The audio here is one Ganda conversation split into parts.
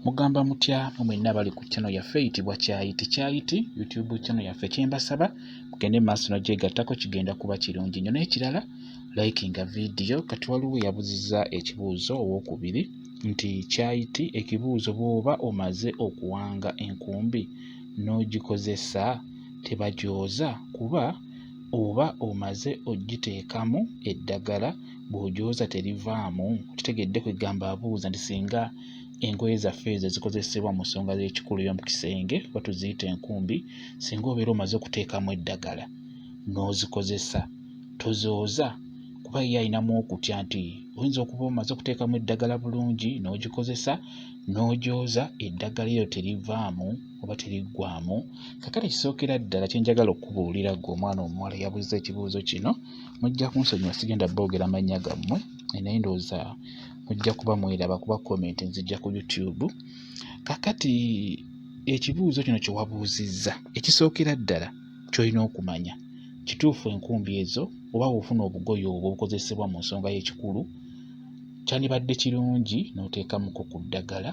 mugamba mutya mu mwenna abali ku channel yaffe eyitibwa kyayiti kyayiti youtube channel yaffe kyembasaba mugende maaso nagyegattako kigenda kuba kirungi nyo n'ekirala likinga vidiyo kati waliwo yabuziza ekibuuzo owokubiri nti kyayiti ekibuuzo bwoba omaze okuwanga enkumbi n'ogikozesa tebajooza kuba oba omaze ogiteekamu eddagala bw'ojooza terivaamu kitegedde kwegamba abuuza nti singa engoye zaffe ezo ezikozesebwa mu nsonga z'ekikulu y'omu kisenge oba tuziyita enkumbi singa obeera omaze okuteekamu eddagala n'ozikozesa tozooza kuba ye alinamu okutya nti oyinza okuba omaze okuteekamu eddagala bulungi n'ogikozesa n'ojooza eddagala eryo terivaamu oba teriggwamu kakati kisookera ddala kyenjagala okukubuulira gwe omwana omuwala yabuuza ekibuuzo kino mujja kunsonyiwa sigenda boogera mannya gammwe naye ndowooza mujja kuba mweraba kuba comment nzijja ku youtube kakati ekibuuzo kino kye wabuuzizza ekisookera ddala ky'olina okumanya kituufu enkumbi ezo oba wofuna obugoye obwo obukozesebwa mu nsonga y'ekikulu kyandibadde kirungi n'oteekamuko ku ddagala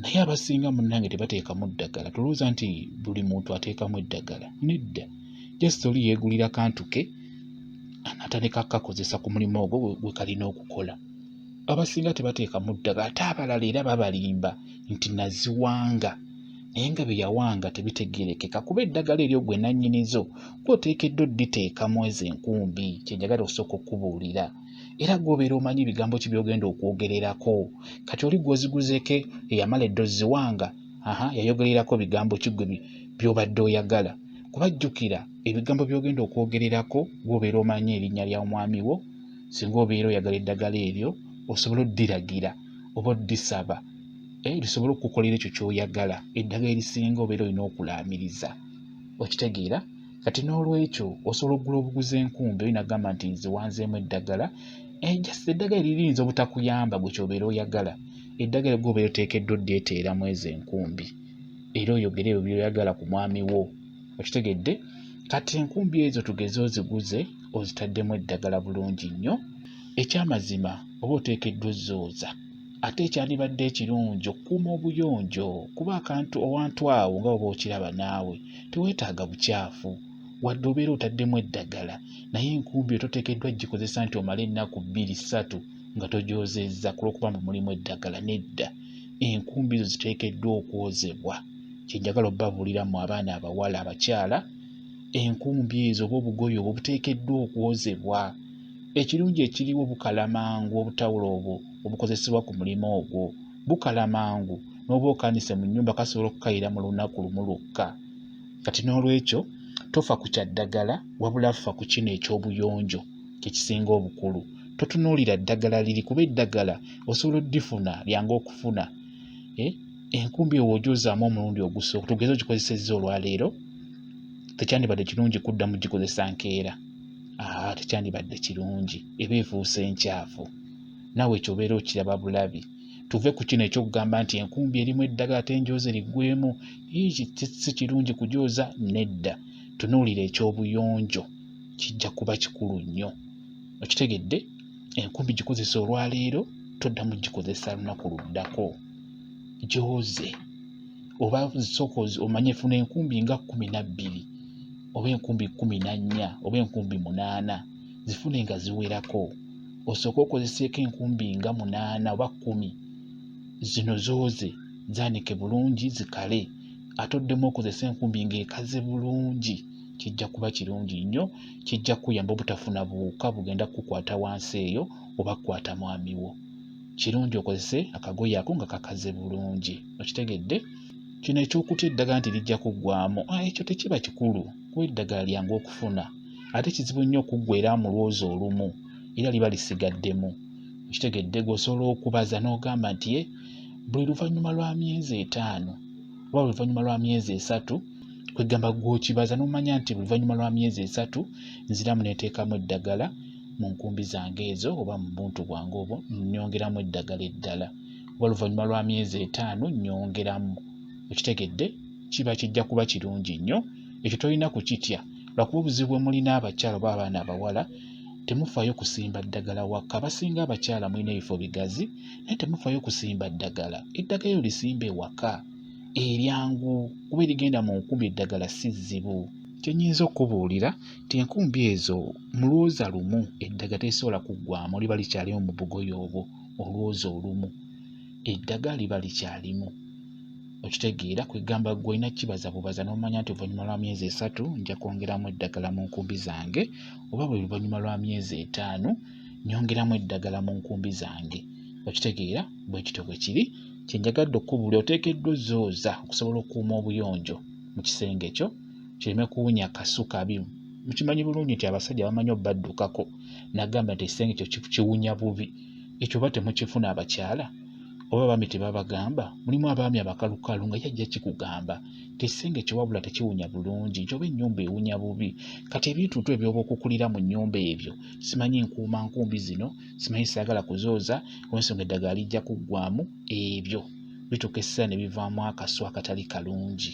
naye abasinga munnange tebateekamu ddagala tolowooza nti buli muntu ateekamu eddagala nedda just oli yeegulira kantu ke anatandika akakozesa ku mulimu ogwo gwe kalina okukola abasinga tebateekamu ddagala ate abalala era babalimba nti naziwanga naye nga bye yawanga tebitegerekeka kuba eddagala eryo gwe nannyinizo gwoteekeddwa odditeeka mu ezo enkumbi kyenjagala okusooka okukubuulira era gwobeera omanyi ebigambo ki byogenda okwogererako kati oli gwoziguzeeko eyamala eddozi ziwanga aha yayogererako bigambo ki gwe by'obadde oyagala kuba jjukira ebigambo by'ogenda okwogererako gw'obeera omanyi erinnya lya omwami wo singa obeera oyagala eddagala eryo osobola oddiragira oba oddisaba eh, lisobole okukukolera ekyo ky'oyagala eddagala erisinga obeera olina okulaamiriza okitegeera kati n'olwekyo osobola okugula obuguzi enkumbi oyo nagamba nti nze wanzeemu eddagala eh, just eddagala liriyinza obutakuyamba gwe kyobeera oyagala eddagala gwe obeera oteekeddwa oddeeteera mu ezo enkumbi era oyogere ebyo byoyagala ku mwami wo okitegedde kati enkumbi ezo tugeze oziguze ozitaddemu eddagala bulungi nnyo ekyamazima oba oteekeddwa ozzooza ate ekyandibadde ekirungi okukuuma obuyonjo kuba akantu owantu awo nga oba okiraba naawe teweetaaga bukyafu wadde obeera otaddemu eddagala naye enkumbi ototeekeddwa gikozesa nti omale ennaku bbiri ssatu nga togyozezza ku lw'okuba mbu mulimu eddagala, nedda. Enkumbi zo ziteekeddwa okwozebwa. Kye njagala obabuulira mmwe abaana abawala, abakyala, enkumbi ezo oba obugoye obwo buteekeddwa okwozebwa. Ekirungi ekiriwo bukala mangu obutawulo obwo obukozesebwa ku mulimu ogwo. Bukala mangu, n'oba okaanise mu nnyumba kasobola okukayira mu lunaku lumu lwokka. Kati n'olwekyo tofa ku kya ddagala, wabula fa ku kino eky'obuyonjo. kyekisinga obukulu totunuulira ddagala liri kuba eddagala osobola oddifuna lyangu okufuna eh, enkumbi owo ogyozaamu omulundi ogusooka tugeze ogikozesezza olwaleero tekyandibadde kirungi kudda mu gikozesa nkeera aa tekyandibadde kirungi eba efuuse enkyafu naawe ekyo obeera okiraba bulabi tuve ku kino ekyokugamba nti enkumbi erimu eddagala ate enjoozi eriggwemu si kirungi kujooza nedda tunuulira ekyobuyonjo kijja kuba kikulu nnyo okitegedde enkumbi gikozesa olwaleero toddamu gikozesa lunaku luddako gyoze oba sooka omanye funa enkumbi nga kkumi na bbiri oba enkumbi kkumi na nnya oba enkumbi munaana zifune nga ziwerako osooke okozeseeko enkumbi nga munaana oba kkumi zino zooze zaanike bulungi zikale ate oddemu okozese enkumbi ng'ekaze bulungi kijja kuba kirungi nnyo kijja kuyamba obutafuna buwuka bugenda kukukwata wansi eyo oba kukwata mwami wo kirungi okozese akagoye ako nga kakaze bulungi okitegedde kino ekyokutya eddagala nti lijja kuggwamu ah, ekyo tekiba kikulu kuba eddagala lyangu okufuna ate kizibu nnyo okuggwera mu lwozi olumu era liba lisigaddemu okitegedde gweosobola okubaza n'ogamba nti ye eh, buli luvannyuma lwa myezi etaano oba oluvannyuma lwa myezi esatu kwegamba gwokibaza nomanya nti oluvannyuma lwa myezi esatu nziramu neteekamu eddagala mu nkumbi zange ezo oba mu buntu bwange obwo nyongeramu eddagala eddala oba oluvannyuma lwa myezi etaano nyongeramu okitegedde kiba kijja kuba kirungi nnyo ekyo tolina kukitya lwakuba obuzibu bwe mulina abakyala oba abaana abawala temufaayo kusimba ddagala wakka abasinga abakyala mulina ebifo bigazi naye temufayo kusimba ddagala eddagala eryo lisimba ewaka eryangu kuba erigenda mu nkumbi eddagala si zzibu kyenyinza okukubuulira nti enkumbi ezo mu lwoza lumu eddagala terisobola kuggwamu liba likyalimu mu bugoye obwo olwoza olumu eddagala liba likyalimu okitegeera kwegamba gwe olina kibaza bubaza n'omanya nti oluvannyuma lwa myezi esatu nja kwongeramu eddagala mu nkumbi zange oba buli luvannyuma lwa myezi etaano nyongeramu eddagala mu nkumbi zange okitegeera bwe kityo bwe kiri kye njagadde okukubuli oteekeddwa ozzooza okusobola okukuuma obuyonjo mu kisenge kyo kireme kuwunya kasuka bimu mukimanyi bulungi nti abasajja bamanyi obaddukako nagamba nti ekisenge kyo kiwunya bubi ekyo oba temukifuna abakyala oba abaami tebabagamba mulimu abaami abakalukalu nga yajja kikugamba nti ekisenge kyo wabula tekiwunya bulungi nti oba ennyumba ewunya bubi kati ebintuntu ebyoba okukulira mu nnyumba ebyo simanyi nkuuma nkumbi zino simanyi saagala kuzooza olwensonga eddagala lijja kuggwamu ebyo bituuka essira ne bivaamu akasu akatali kalungi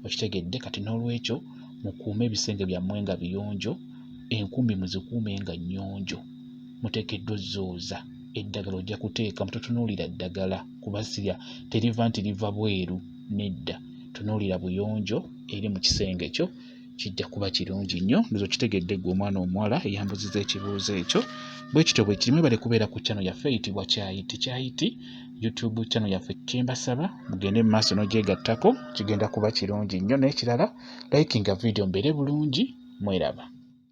okitegedde kati n'olwekyo mukuume ebisenge byammwe nga biyonjo enkumbi muzikuume nga nnyonjo muteekeddwa ozzooza eddagala ojja kuteeka mutotunuulira ddagala kuba sirya teriva nti liva bweru nedda tunuulira buyonjo eri mu kisenge kyo kijja kuba kirungi nnyo ndoza okitegedde gwe omwana omuwala eyambuziza ekibuuzo ekyo bwe kityo bwe kirimu ebale kubeera ku kyano yaffe eyitibwa kyayiti kyayiti youtube kyano yaffe kyembasaba mugende mu maaso n'ogyegattako kigenda kuba kirungi nnyo n'ekirala likinga vidiyo mbeere bulungi mweraba